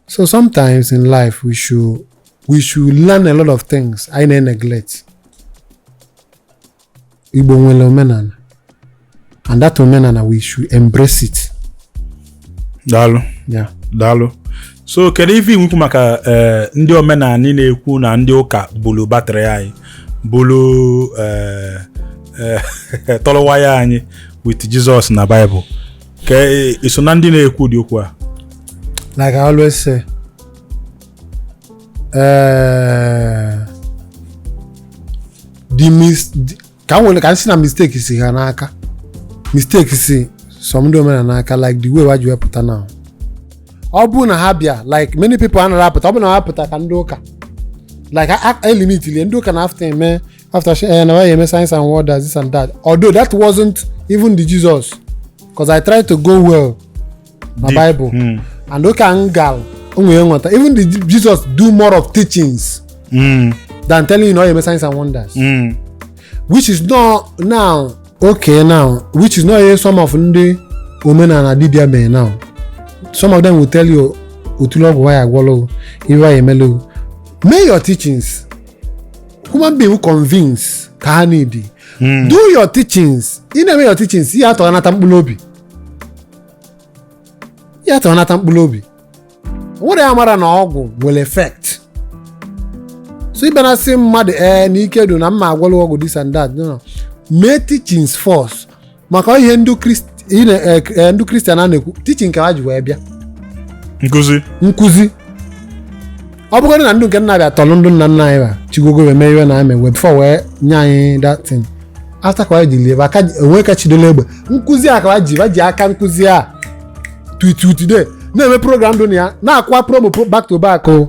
So sometimes in life we should we should learn a lot of things anyị na-neglect. Igbo nwere omenala and that omenala we should embrace it. Daalụ. Yeah. Daalụ. So kedu ife i nwe ikwu maka eh, ndị omenanị na-ekwu na ndị ụka bulu batrị anyị bulu eh, eh, tọrọ waya anyị with Jesus na Bible ka e, i so na ndị na-ekwu ụdị okwu a like I always say eh, the mis the- ka m nwere ka m sị na mistake si ha n'aka mistake si some ndị omenala n'aka like the way wa ji wee pụta now ọ bụrụ na ha bịa like many people anaghị apụta ọ bụrụ na ha pụta ka ndị ụka like a- a- imilikiti ndị ụka na-afụta eme afụta sị eh, na wa ya-eme signs and wonders this and that although that wasn't even the jesus because i tried to go well na Deep. bible Mm. and okay m gal o nwere nghọta even the Je- jesus do more of teachings Mm. than telling you na ọ ga-eme signs and wonders Mm. which is not now okay now which is not ihe some of ndị omenala dibịa mere now some of them will tell you otule ọgwụ ya agwọla o ife ya emela o mee your teachings human being convince ka ha need hmm. do your teachings ị na-eme your teachings ihe atọ anata mkpụrụ obi ihe atọ anata mkpụrụ obi nwere ya mara na ọgwụ nwere effect so ị bịala sị mmadụ ee eh, na ike dị na m m agwọla ọgwụ this and that no no mee teachings first maka ihe ndị Krist- ị na- eh, eh, ndị Christian a na-ekwu teaching ka ha ji wee bịa nkụzi nkụzi ọ bụgodị na ndị nke na-abịa tọrọ ndị nna nna anyị ba chigogo wee mee ife na-eme wee before wee nye anyị that thing after ka ji lie aka onwe ka chidola egbe nkụzi a ka wa ji wa ji aka nkụzi a tuitutude na-eme program dị na ya na-akwa promo pro- back to back o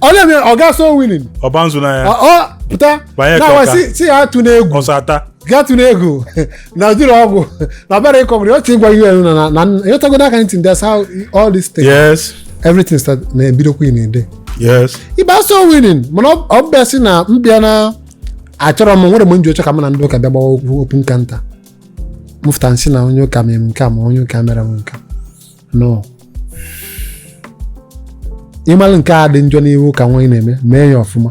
ọ na-eme ọ gaa soul winning ọba nzu n'anya ọ ọ pụta Banye ka na-awa ọka. si si ya tụ n'egwu ọsọ ata gaa tụ n'egwu na ụdịrị ọgwụ na ọbara ịkọgwụrụ ọchị ịgwa un na na na ịghọtago n'aka ntị ndị that's how all this thing yes everything start na-ebidokwa ị na-ede yes ịba soul winning mana ọ- ọ bịa si na mbịa na achọrọ m nwere mgbe m ji oche ka m na ndị ụka bịa gbawa okwu okwu nka nta m fụta m sị na onye ụka mere m nke a ma onye ụka mere m nke a. no ị malụ nke a dị njọ n'ihe ọ ka wụ ị na-eme mee ya ọfụma